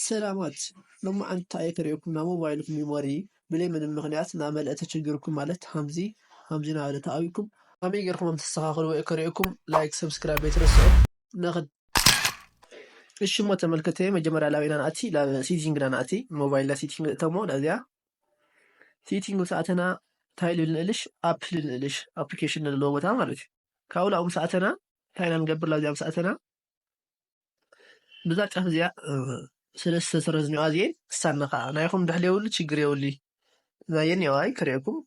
ሰላማት ሎማዓንቲ ኣይተሪኤኩምን ናይ ሞባይልኩም ሚሞሪ ብለይ ምንም ምክንያት ናመለኣ ተቸጊርኩም ማለት ሃምዚ ሃምዚ ናበለ ተኣዊኩም ካመይ ገርኩም ሃም ተስተካክልዎ እየ ክሪኤኩም ላይክ ሰብስክራይብ ኣይትረስዑ ንክድ እሺ እሞ ተመልከተየ መጀመርያ ላበይ ኢና ንኣቲ ላብ ሲቲንግ ኢና ንኣቲ ሞባይል ላ ሲቲንግ ንእተሞ ናዚኣ ሲቲንግ ምስ ኣተና እንታይ ልብል ንእልሽ ኣፕ ልብል ንእልሽ ኣፕሊኬሽን ንለዎ ቦታ ማለት እዩ ካብኡ ላብኡ ምስ ኣተና እንታይ ኢና ንገብር ላብዚኣ ምስ ኣተና ብዛ ጫፍ እዚኣ ስለ ዝተሰረዝኒኦ ኣዝየ ክሳነ ከዓ ናይኹም ድሕል የብሉ ችግር የብሉ ናየን የዋይ ክርእኩም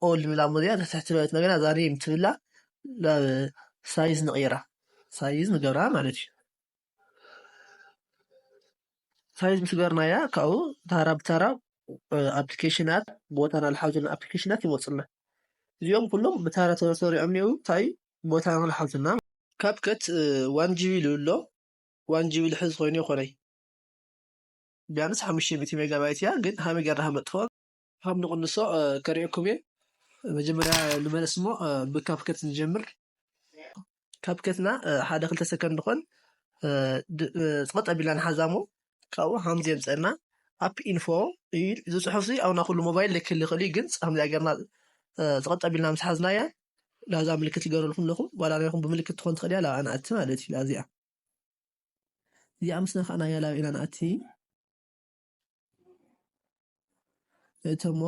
ኦል ንላሞ እዚኣ ተትሕቲ በለት ነገና ዛሬም ትብላ ናብ ሳይዝ ንቕይራ ሳይዝ ንገብራ ማለት እዩ ሳይዝ ምስ ገርናያ ካብኡ ታራ ብታራ ኣፕሊኬሽናት ቦታና ዝሓዙና ኣፕሊኬሽናት ይመፁና እዚኦም ኩሎም ብታራ ተሰሪዖም እኒአው እንታይ ቦታ ን ሓልትና። ካፕከት ዋን ጂቢ ኢሉ ኣሎ ዋን ጂቢ ልሕዝ ኮይኑ ይኮነይ። ቢያንስ ሓሙሽተ ሚእቲ ሜጋባይት እያ ግን ሃመይ ገርና ሃነጥፍኦ። ሃም ንቅንሶ ከርእየኩም እየ መጀመርያ ንመለስ እሞ ብ ካፕከት ንጀምር። ካፕከትና ሓደ ክልተ ሰከንድ ኮን ጸቀጥ ኣቢልና ንሓዛ እሞ ካብኡ ሃም ዘየምጸና ኣፕ ኢንፎ ኢዩ እዚ ጽሑፍዚ ኣብ ናይ ኩሉ ሞባይል ልክህሊ ይክእል ኢዩ ግን ሃምዚኣ ገርና ጸቀጥ ኣቢልና ምስ ሓዝናያ ላዛ ምልክት ይገበረልኩም ኣለኹ ጓል ኣርያኹም ብምልክት ትኾን ትኽእል እያ ላብኣ ንኣቲ ማለት እዩ ላዚኣ እዚኣ ምስ ነካእናያ ላብ ኢና ንኣቲ እተሞ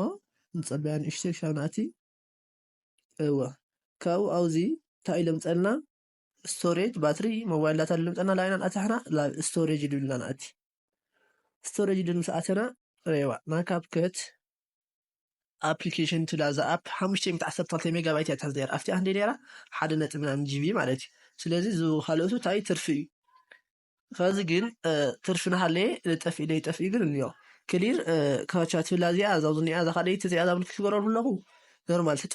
ንፀበያ ንእሽተይ ክሻብ ንኣቲ እወ ካብኡ ኣብዚ እንታይ ለምፀልና ስቶሬጅ ባትሪ ሞባይል ዳታ ለምፀልና ላብ ኢና ንኣቲ ሕና ላብ ስቶሬጅ ድብልና ንኣቲ ስቶሬጅ ድን ምስ ኣተና ረዋ ናብ ካፕከት ኣፕሊኬሽን እቲ ላዛ ኣፕ ሓሙሽተ ሚእቲ ዓሰርተ ክልተ ሜጋባይት እያ ትሕዝ ነይራ ኣብቲኣ ክንደይ ነይራ ሓደ ነጥቢ ምናምን ጂቢ ማለት እዩ ስለዚ እዚ ካልኦቱ እንታይ ትርፊ እዩ ከዚ ግን ትርፊ ናሃለየ ልጠፍእ ኢለ ይጠፍእ ግን እንዮ ክሊር ካቻ ትብላ እዚኣ እዛ ዝኒኣ እዛ ካልኣይቲ እዚኣ እዛ ክትገረሉ ኣለኹ ኖርማል ትታ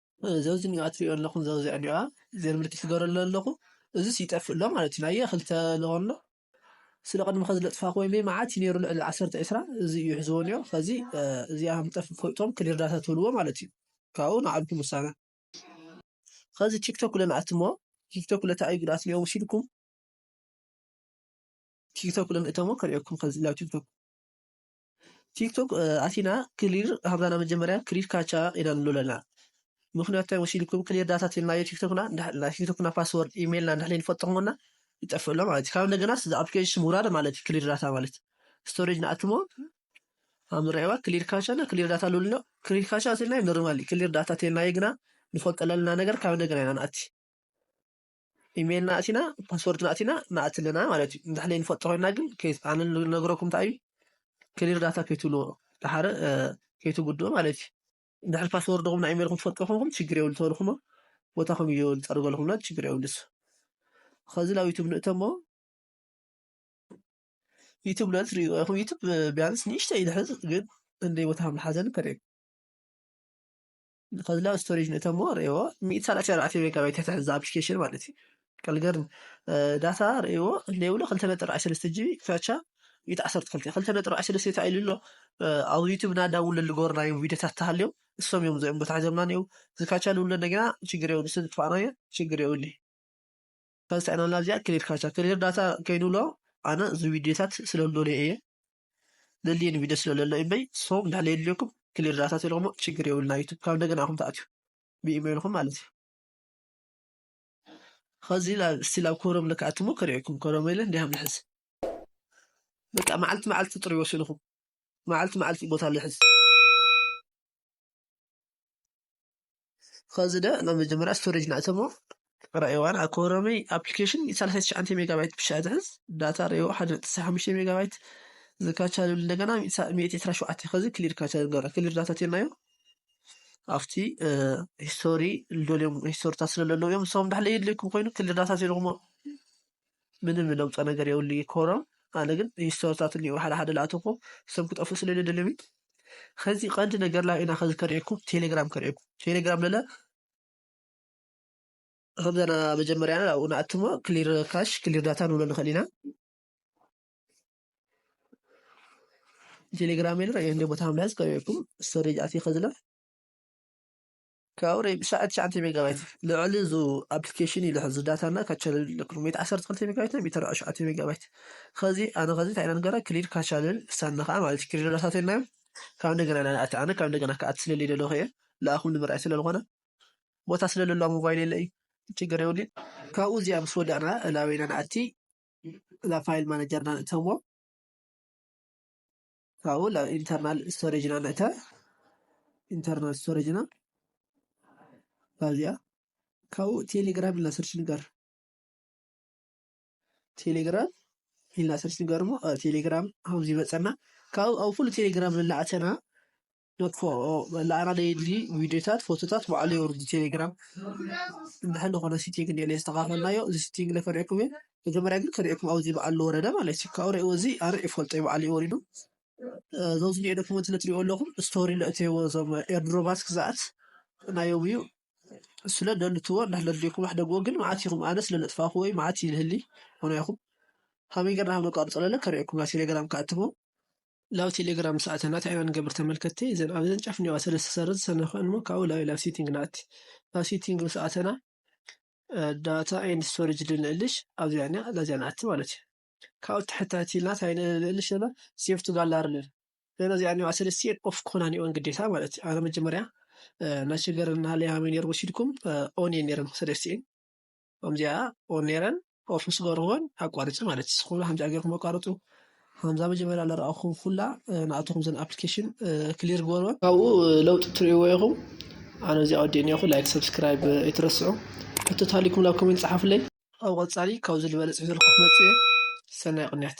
ዘውዝኒኦ ኣትሪኦ ኣለኹም ዘውዘዕኒኦ ዘር ምልክት ትገረሉ ኣለኹ እዙስ ይጠፍእ ኣሎ ማለት እዩ ናየ ክልተ ለኾሎ ስለ ቅድሚ ከዚ ለጥፋኹ ወይ መዓት እዩ ነይሩ ልዕሊ ዓሰርተ ዕስራ እዚ እዩ ሕዝቦኒኦ ከዚ እዚኣ ምጠፍ ፈልጦም ክሊር ዳታ ትብልዎ ማለት እዩ ካብኡ ንዓልኩም ውሳነ ከዚ ቲክቶክ ለን ኣትሞ ቲክቶክ ለታ እዩ ጉድኣት ኒኦ ውሲድኩም ቲክቶክ ለን እተሞ ከርእየኩም ከዚ ላብ ቲክቶክ ቲክቶክ ኣቲና ክሊር ሃብና ናብ መጀመርያ ክሊር ካቻ ኢና ንብሎ ኣለና ምክንያቱ እንታይ መሲልኩም ክሊር ዳታ ቴልናዮ ቲክቶክና ናይ ቲክቶክና ፓስወርድ ኢሜይልና እንድሕር ዘይንፈልጦምና ይጠፍእ ኣሎ ማለት እዩ ካብ እንደገናስ እዚ ኣፕሊኬሽን ምውራድ ማለት እዩ ክሊር ዳታ ማለት ስቶሬጅ ንኣትሞ ኣብ ምርኣይዋ ክሊር ካቻ ና ክሊር ዳታ ልብሎ ክሊር ካቻ ቴልናዮ ኖርማል ክሊር ዳታ ቴልናዮ ግና ንፈልጦ ዘለና ነገር ካብ እንደገና ኢና ንኣቲ ኢመይልና ኣእቲና ፓስወርድና ኣእቲና ንኣቲ ኣለና ማለት እዩ እንድሕር ዘይንፈልጦ ኮይና ግን ኣነ ዝነግረኩም እንታይ እዩ ክሊር ዳታ ከይትብልዎ ድሓረ ከይትጉድኡ ማለት እዩ እንድሕር ፓስወርድኹም ናይ ኢመይልኩም ትፈልጡ ኮንኩም ችግር የብሉ ተበልኩሞ ቦታኹም እዩ ዝፀርገለኩም ና ችግር የብሉ እሱ ከዚ ናብ ዩቱብ ንእተሞ ዩቱብ ለ ትሪእዎ ኢኹም ዩቱብ ቢያንስ ንእሽተይ ይድሕዝ ግን እንደ ቦታኹም ዝሓዘን ከሪም ከዚ ላብ ስቶሬጅ ንእተሞ ርእዎ ሚእቲ ሰላሳ ኣርባዕተ ሜጋባይት ትሕቲ ሕዛ ኣፕሊኬሽን ማለት እዩ ቀልገርን ዳታ ርእዎ ሌብሎ ክልተ ነጥቢ ኣርባዕተ ሰለስተ ጂቢ ክታቻ ሚእቲ ዓሰርተ ክልተ ክልተ ነጥቢ ኣርባዕተ ሰለስተ ተባሂሉ ኣሎ ኣብ ዩቱብ እና ዳውንሎድ ዝገበርናዮም ቪድዮታት ተሃልዮም እሶም እዮም እዚኦም ቦታ ሒዞምና ነው ዝካቻ ዝብሎ እንደገና ችግር የብሉ ስለ ዝጥፋእናዮ ችግር የብሉ ካብ ዝሰዕናላ እዚኣ ክሊር ካቻ ክሊር ዳታ ከይኑ ኣሎ ኣነ እዚ ቪድዮታት ስለለለይ እየ ለልየን ቪድዮ ስለለሎ እምበይ ሶም እንዳ ለየልየኩም ክሊር ዳታ ትልኹሞ ችግር የብልና ዩቱብ ካብ እንደገና ኣኹም ተኣትዩ ብኢሜይልኹም ማለት እዩ ከዚ እስቲ ላብ ኮሮም ልክኣትሞ ክሪኤኩም ኮሮም ኢለ እንዲያ ምልሕዝ በቃ መዓልቲ መዓልቲ ጥሪ ወሲንኹም መዓልቲ መዓልቲ ቦታ ልሕዝ ኸዚ ዳኣ ናብ መጀመርያ ስቶሬጅ ንኣተሞ ረኣይዋ ዳኣ ኮረመይ ኣፕሊኬሽን ሰላሳ ትሽዓተ ሜጋባይት ብሻ ትሕዝ ዳታ ረእይዎ ሓደ ነጥቢ ዕስራን ሓሙሽተን ሜጋባይት ዝካቻ ልብል እንደገና ሚእቲ ዕስራ ሸውዓተ ኸዚ ክሊር ካቻ ንገብራ ክሊር ዳታ ቴናዮ ኣብቲ ሂስቶሪ ልደልዮም ሂስቶሪታት ስለለለዉ እዮም ንስኹም ዳሕለይ የድልየኩም ኮይኑ ክሊር ዳታ ቴልኹሞ ምንም ለውጠ ነገር የብሉ እዩ ኮሮም ኣነ ግን ሪስቶርታት እኒኡ ሓደ ሓደ ላእተኮ ሰም ክጠፉ ስለ ደልሚ ከዚ ቀንዲ ነገር ላይ ኢና ከዚ ከርእየኩም ቴሌግራም ከርእየኩም ቴሌግራም ለለ ከምዘና መጀመሪያ ኣብኡ ንኣትሞ ክሊር ካሽ ክሊር ዳታ ንብሎ ንኽእል ኢና ቴሌግራም የለ እንደ ቦታ ምልያዝ ከርእየኩም ስቶሬጅ ኣትየ ከዝለፍ ከውሪ ብሻዕ ትሽዓተ ሜጋባይት ልዕሊ ዙ ኣፕሊኬሽን ኢሉ ሕዚ ዳታ እና ካቻልል ለክሉ ሜት ዓሰርተ ክልተ ሜጋባይት ና ቢተር ሽዓተ ሜጋባይት ከዚ ኣነ ከዚ እንታይ ኢና ንገራ ክሊድ ካቻልል ሳና ከዓ ማለት ክሊድ ዳታት ናዮ ካብ እንደገና ኢና ንኣቲ ኣነ ካብ እንደገና ክኣት ስለለ ደለኹ እየ ልኣኹም ንምርኣይ ስለዝኾነ ቦታ ስለለሎ ሞባይል የለ እዩ ችግር የብሉን ካብኡ እዚኣ ምስ ወዳእና እላበይና ንኣቲ እዛ ፋይል ማናጀርና ንእተዎ ካብኡ ናብ ኢንተርናል ስቶሬጅ ኢና ንእተ ኢንተርናል ስቶሬጅ ኢና ካብዚኣ ካብኡ ቴሌግራም ኢልና ሰርች ንገር ቴሌግራም ኢልና ሰርች ንገር እሞ ቴሌግራም ከምዚ ይመፀና ካብኡ ኣብ ኩሉ ቴሌግራም እናእተና ንኣና ዘየድሊ ቪድዮታት ፎቶታት ባዕሉ የውርድ እዩ ቴሌግራም እንድሕር ዝኾነ ሲቲንግ እንኤ ዘየስተኻኸልናዮ እዚ ሲቲንግ እለ ከርእየኩም እየ መጀመርያ ግን ከርእየኩም ኣብዚ በዓል ዝወረደ ማለት እዩ ካብኡ ርእይዎ እዚ ኣነ ይፈልጦ እዩ በዓል እዩ ወሪዱ እዞ ዝኒኦ ዶክመንት ስለ ትሪእዎ ኣለኹም ስቶሪ ለእትዎ እዞም ኤርድሮባት ክዝኣት ናዮም እዩ ስለ ደልትዎ እንድሕር ዘድልየኩም ኣሕደግዎ ግን መዓት ኢኹም ኣነ ስለ ለጥፋኽዎ እዩ መዓት ይልህሊ ሆነ ኢኹም ከመይ ገርና ከም ነቋርጾ ለለ ከርእየኩም ናብ ቴሌግራም ክኣትሞ ላው ቴሌግራም ምስ ኣተና ታይ ኢና ንገብር ተመልከቲ እዘን ኣብዘን ጫፍ እኒዋ ሰለስተ ሰረዝ ሰነክእን እሞ ካብኡ ላው ኢላ ኣብ ሴቲንግ ንኣቲ ኣብ ሴቲንግ ምስ ኣተና ዳታ ኤንድ ስቶሬጅ ልንእልሽ ኣብዚኣ እኒኣ ላዚኣ ንኣቲ ማለት እዩ ካብኡ ትሕታቲ ኢልና ታይ ንእልሽ ዘለና ሴቭ ቱ ጋላሪ ንብል እዘን እዚኣ እኒዋ ሰለስቲኤን ኦፍ ክኾና እኒኦን ግዴታ ማለት እዩ ኣነ መጀመርያ ናይ ሸገር እና ሊያሜ ነይሩ ወሲድኩም ኦን እየን ነይረን ሰለስቲኤን ከምዚኣ ኦን ነረን ኦፍ ምስ ገበርክወን ኣቋሪፂ ማለት እዩ ኩሉ ከምዚኣ ገርኩም ኣቋርፁ ከምዛ መጀመርያ ለረኣኹም ኩላ ንኣተኹም ዘን ኣፕሊኬሽን ክሊር ግበርወን ካብኡ ለውጢ ትርእይዎ ኢኹም ኣነ እዚኣ ወዲእ ኒኹ ላይክ ሰብስክራይብ ኣይትረስዑ ሕቶ ታሊኩም ናብ ኮሜንት ፀሓፍለይ ኣብ ቐፃሊ ካብዚ ዝበለፅ ሒዘልኩ ክመፅእ እየ ሰናይ ቅንያት